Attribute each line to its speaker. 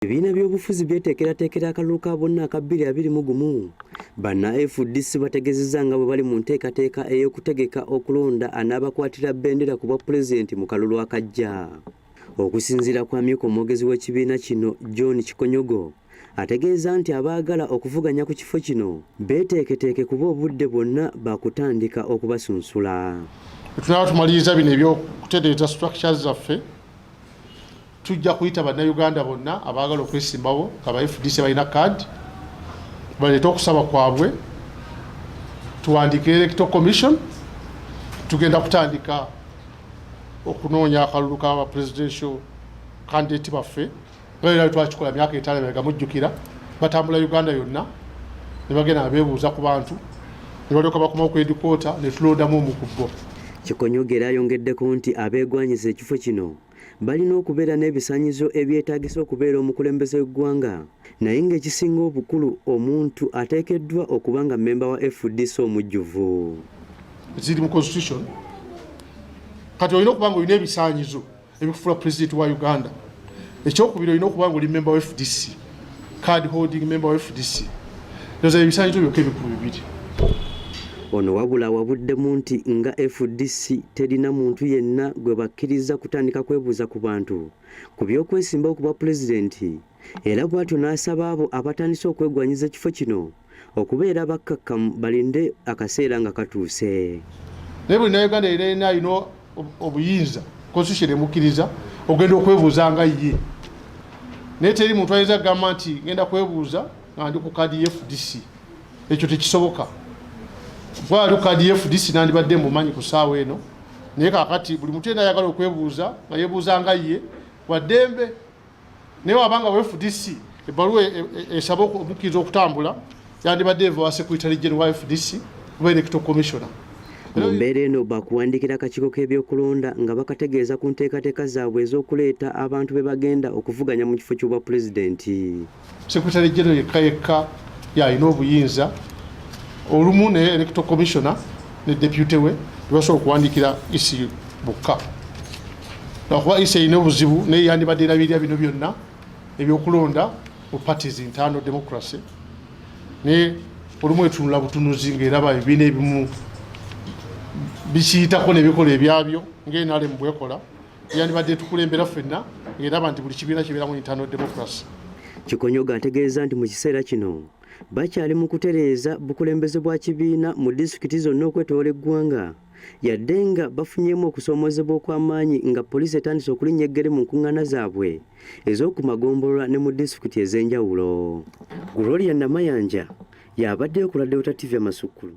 Speaker 1: Ebibiina by'obufuzi byeteekerateekera akalulu ka bonna aka bbiri abiri mu gumu. Banna FDC bategezezza nga bwe bali mu nteekateeka ey'okutegeka okulonda anaabakwatira bendera ku bwa pulezidenti mu kalulu akajja. Okusinziira ku amyuka omwogezi w'ekibiina kino John Kikonyogo ategeeza nti abaagala okuvuganya ku kifo kino beeteeketeeke kuba obudde bwonna bakutandika okubasunsula. Tunaba
Speaker 2: tumaliriza bino ebyokutereeza structures zaffe Tujja kuyita Bannayuganda bonna abaagala okwesimbawo nga ba FDC balina kaadi baleete okusaba kwabwe, tuwandiike Electoral Commission. Tugenda kutandika okunoonya akalulu ka presidential candidate baffe nga era twakikola myaka etaano emabega mujjukira, batambula Uganda yonna ne bagenda nga beebuuza ku bantu ne balyoka bakomawo ku edikoota ne tulondamu omu ku bo. Kikonyogera
Speaker 1: ayongeddeko nti abeegwanyiza ekifo kino balina okubeera n'ebisanyizo ebyetaagisa okubeera omukulembeze w'eggwanga naye ng'ekisinga obukulu omuntu ateekeddwa okuba nga mmemba wa fdc omujjuvu
Speaker 2: ziri mu constitution kati olina okuba nga olina ebisanyizo ebikufuula pulezidenti wa uganda ekyokubiri olina okuba nga oli mmemba wa fdc card holding member wa fdc ndoza ebisanyizo byokka ebikulu bibiri
Speaker 1: ono wabula wabuddemu nti nga fdc terina muntu yenna gwe bakkiriza kutandika kwebuuza ku bantu ku by'okwesimbawo ku bwa pulezidenti era bwatyo n'asaba abo abatandise okwegwanyiza ekifo kino okubeera bakkakkamu balinde akaseera nga katuuse naye buli
Speaker 2: nauganda era ena alina obuyinza constitution emukkiriza ogenda okwebuuza nga ye naye teri muntu ayinza kugamba nti ngenda kwebuuza nga ndi ku kadi fdc ekyo tekisoboka gwali ku kadi fdc nandibadde mumanyi ku saawa eno naye kakati buli muntu yena ayagala okwebuuza nga yebuuza nga ye waddembe naye wabanga wa fdc ebbaluwa e, e, e, esaba omukkiriza okutambula yandibadde eva wa secretary general wa fdc oba electoral commissioner mu mbeera
Speaker 1: eno baakuwandiikira akakiiko k'ebyokulonda nga bakategeeza ku nteekateeka zaabwe ez'okuleeta abantu be bagenda okuvuganya mu kifo ky'obwapulezidenti Secretary General
Speaker 2: yekka yekka yalina obuyinza olumu ne electoral commissioner ne deputy we tebasobola okuwandiikira isi bukka lwakuba isi erina obuzibu naye yandibadde erabirira bino byonna ebyokulonda mu parties internal democracy naye olumu etunula butunuzi ngaeraba ebibiina ebimu bikiyitako nebikola ebyabyo ngaenalemu bwekola yandibadde etukulembera ffenna ng'eraba nti buli kibiina kibeeramu internal democracy kikonyoga
Speaker 1: ategeeza nti mu kiseera kino bakyali mu kutereeza bukulembeze bwa kibiina mu disitulikiti zonna okwetoola eggwanga yadde nga bafunyeemu okusoomoozebwa okw'amaanyi nga poliisi etandise okulinnya eggere mu nkuŋŋaana zaabwe ez'oku magombolola ne mu disitulikiti ez'enjawulo gloria namayanja y'abaddeyo ku radiotativya masukkulu